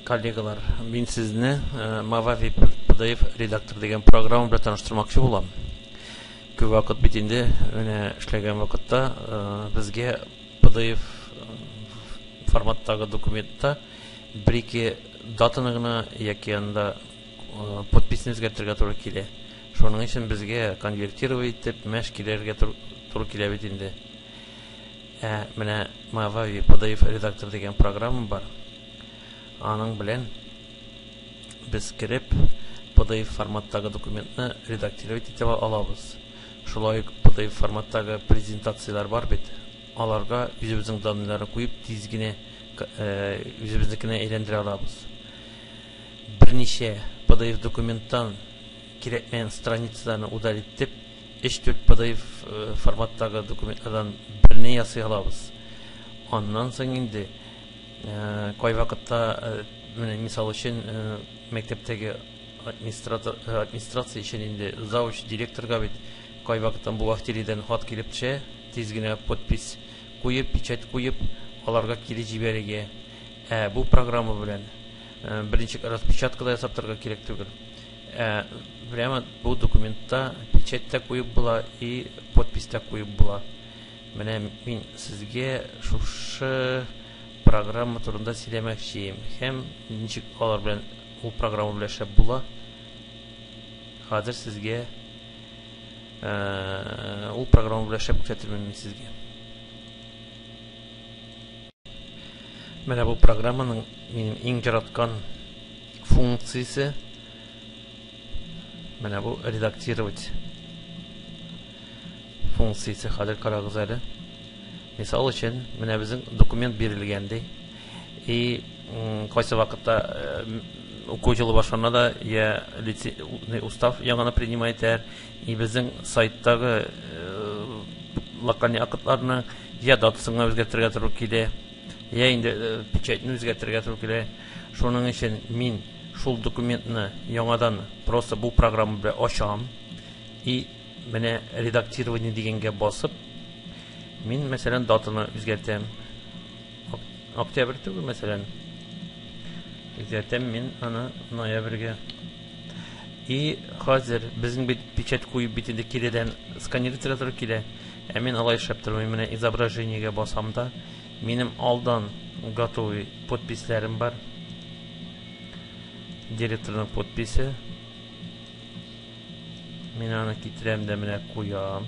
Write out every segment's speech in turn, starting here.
коллегалар, мин сезне э, Mavavi PDF редактор дигән программа белән таныштырмакчы булам. Күп вакыт бит инде менә эшләгән вакытта э, безгә PDF э, форматтагы документта бер-ике Датаны гына яки анда подписьны үзгәртергә туры килә. Шуның өчен безгә конвертировать итеп мәш килергә туры килә бит инде. Ә менә Mavavi PDF редактор дигән программа бар. Аның белән без кереп PDF форматтагы документны редактировать итеп алабыз. Шулай ук PDF форматтагы презентацияләр бар бит. Аларга үзебезнең данныйларны куеп, тиз генә үзебезнекенә әйләндерә алабыз. Берничә PDF документтан кирәкмәгән страницаларны удалить итеп, 3-4 PDF форматтагы документлардан берне ясый алабыз. Аннан соң инде кайвакытта, менә мисал өчен, мәктәптәге администратор администрация өчен инде завуч директорга бит кайвакытта бухгалтериядән хат килеп төшә. Тиз генә подпись куеп, печать куеп, аларга кире җибәрергә. Ә бу программа белән берничек распечатка да ясап торырга кирәк түгел. Ә прямо бу документта печать та куеп була и подпись та куеп була. Менә мин сезгә шушы программа турында сөйләмәкчием һәм ничек алар белән ул программа белән эшләп була. Хәзер сезгә Ул программа белән шәп күрсәтермен мин сезгә. Менә бу программаның минем иң яраткан функциясе. Менә бу редактировать функциясе хәзер карагыз әле. Мисал өчен, менә безнең документ бирелгән ди. И Кайсы вакытта уку җылы башлана да, я лицейный устав яңаны принимай итәр, и безнең сайттагы локальный актларны я датасына үзгәртергә туры килә, я инде печатьне үзгәртергә туры килә. Шуның өчен мин шул документны яңадан просто бу программа белән ачам, и менә редактирование дигәнгә басып, мин мәсәлән датаны үзгәртәм. Октябрь түгел, мәсәлән. Үзгәртәм мин аны ноябрьгә. И хәзер безнең бит печать куеп бит инде киредән сканировать итәргә килә. Ә мин алай эшләп тормыйм. Менә изображениегә басам да, минем алдан готовый подписләрем бар. Директорның подписе. Мин аны китерәм дә менә куям.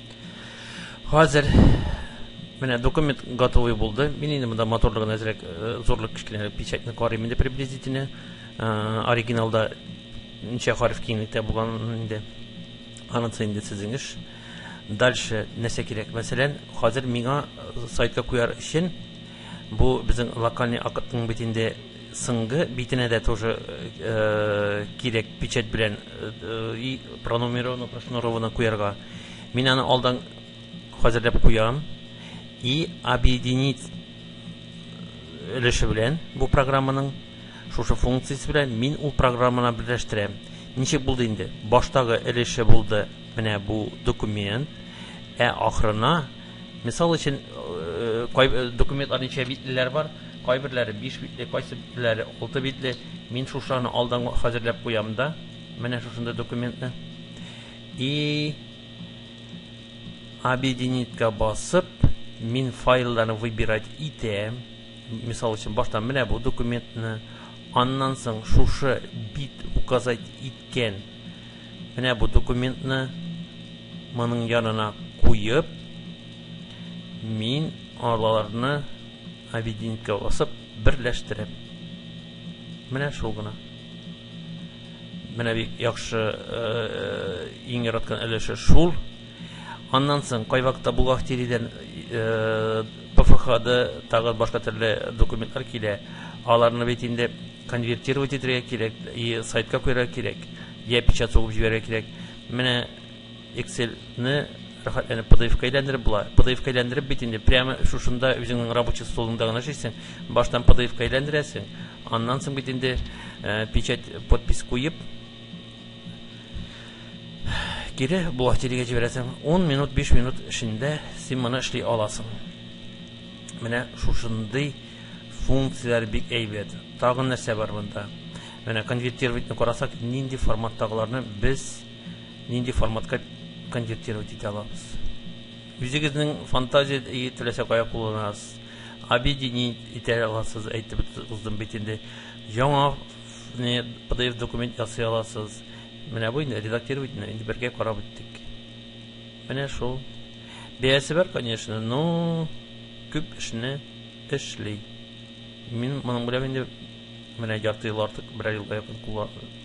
Хәзер менә документ готовый булды. Мин инде монда моторлыгын әзрәк э, зурлык кечкенәрәк печатьне карыйм инде приблизительно. Э, оригиналда ничә хәреф киңлектә булган инде. Анысы инде сезнең эш. Дальше нәрсә кирәк? Мәсәлән, хәзер миңа э, сайтка куяр өчен бу безнең локальный акытның бит инде сыңгы битенә дә тоже кирәк печать белән пронумеровано прошнуровано куярга. Мин аны алдан хәзерләп куям. И объединить өлеше белән бу программаның шушы функциясе белән мин ул программаны берләштерәм. Ничек булды инде? Баштагы өлеше булды менә бу документ. Ә ахырына мисал өчен э, кай э, документлар ничә битлеләр бар? Кайберләре 5 битле, кайсыберләре 6 битле. Мин шушаны алдан хәзерләп куям да, менә шушында документны. И объединитька басып, мин файлларны выбирать итәм. Мисал өчен, башта менә бу документны, аннан соң шушы бит указать иткән менә бу документны моның янына куеп, мин аларны объединитька басып берләштерәм. Менә шул гына. Менә бик яхшы иң яраткан өлеше шул. Аннан соң кайвакытта бухгалтериядән ПФХда тагы башка төрле документлар килә. Аларны бит инде конвертировать итәргә кирәк, и сайтка куярга кирәк, я печать сугып җибәрергә кирәк. Менә Excel ны рәхәтләнеп PDF-ка әйләндереп була. PDF-ка әйләндереп бит инде прямо шушында үзеңнең рабочий столыңда гына эшлисең. Баштан PDF-ка әйләндерәсең, аннан соң бит инде э, печать, подпись куеп, кире бухгалтериягә җибәрәсең. 10 минут, 5 минут эчендә син моны эшли аласың. Менә шушындый функцияләр бик әйбәт. Тагын нәрсә бар монда? Менә конвертировать-ны карасак, нинди форматтагыларны без нинди форматка конвертировать итә алабыз үзегезнең фантазия теләсә кая кулланасыз объединить итә аласыз әйтеп уздым бит инде яңа pdf документ ясый аласыз менә бу инде редактировать инде бергә карап үттек менә шул бәясе бар конечно но күп эшне эшли мин моның белән инде менә ярты ел артык бер ел якын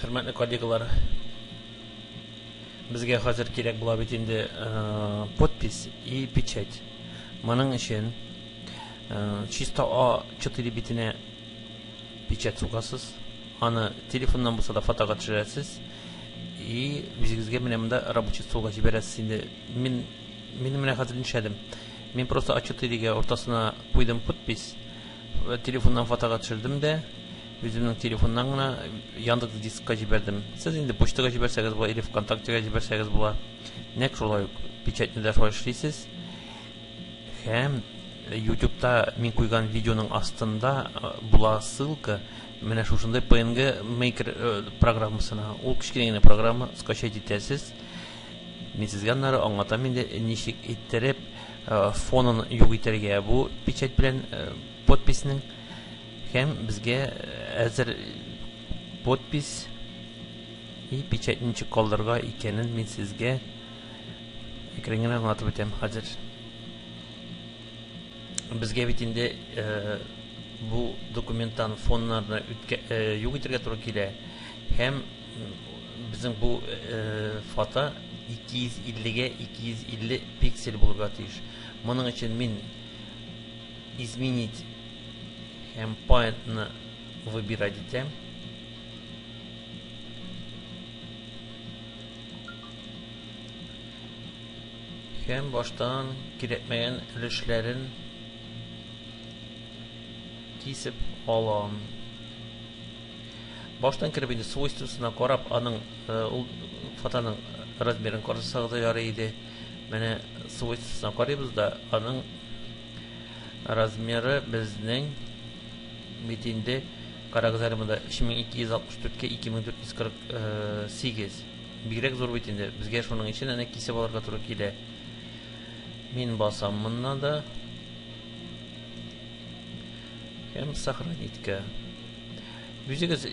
хөрмәтле коллегалар безгә хәзер кирәк була бит инде э, подпись и печать моның өчен э, чисто а 4 битенә печать сугасыз аны телефоннан булса да фотога төшерәсез и үзегезгә менә монда рабочий столга җибәрәсез инде мин мин менә хәзер нишләдем мин просто а 4 ге уртасына куйдым подпись Телефоннан фотога төшердем дә, үземнең телефоннан гына Яндекс дискка җибәрдем. Сез инде почтага җибәрсәгез була, или ВКонтактега җибәрсәгез була. Нәкъ шулай ук печатьнедә шулай эшлисез. Һәм ютубта мин куйган видеоның астында була ссылка менә шушындай PNG Maker программасына. Ул кечкенә генә программа, скачать итәсез. Мин сезгә аннары аңлатам инде, ничек иттереп фонын юк итәргә бу печать белән подписнең һәм безгә әзер подпись и печать ничек калдырырга икәнен мин сезгә әкренген аңлатып үтәм хәзер безгә бит инде бу документтан фоннарны юк итәргә туры килә һәм Безнең бу фото 250 гә 250 пиксель булырга тиеш. Моның өчен мин изменить һәм поинтны выбирать итәм. Һәм баштан кирәкмәгән өлешләрен кисеп алам. Баштан кереп инде свойствосына карап, аның ул фотоның размерын карасагыз да ярый иде. Менә свойствосына карыйбыз да, аның размеры безнең бит инде карагыз әле монда 3264-кә 2448. Бигрәк зур бит инде. Безгә шуның өчен әнә кисеп алырга туры килә. Мин басам моннан да. Һәм сохраниткә. Үзегез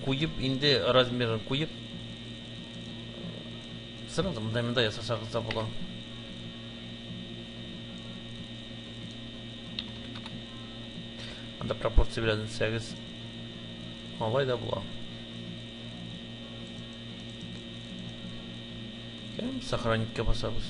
куеп, инде размерын куеп, сразу мында-мында ясасагыз да була. Анда пропорция белән итсәгез, алай да була. Һәм сохранить-ка басабыз.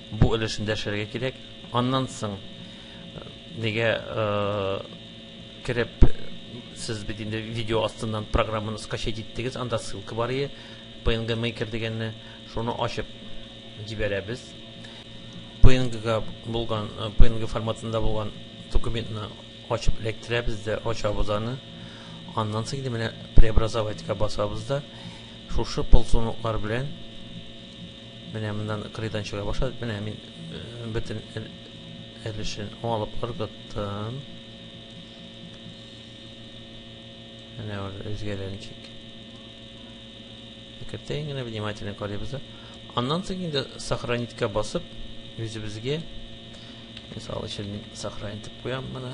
Бу өлешен дәшәргә кирәк. Аннан соң нигә кереп сез бит инде видео астыннан программаны скачать иттегез, анда ссылка бар ие, PNG Maker дигәнне, шуны ачып җибәрәбез. PNG-га булган, PNG форматында булган документны ачып эләктерәбез дә, ачабыз аны. Аннан соң инде менә преобразовать-ка басабыз да, шушы полсуныклар белән Менә моннан кырыйдан чыга башлады. Менә мин э, бөтен өлешен алып ыргыттым. Менә ул үзгәләр ничек. Кертәйен генә внимательно карыйбыз да. Аннан соң инде сохранитька басып, үзебезгә мисал өчен мин сохранить итеп куям моны.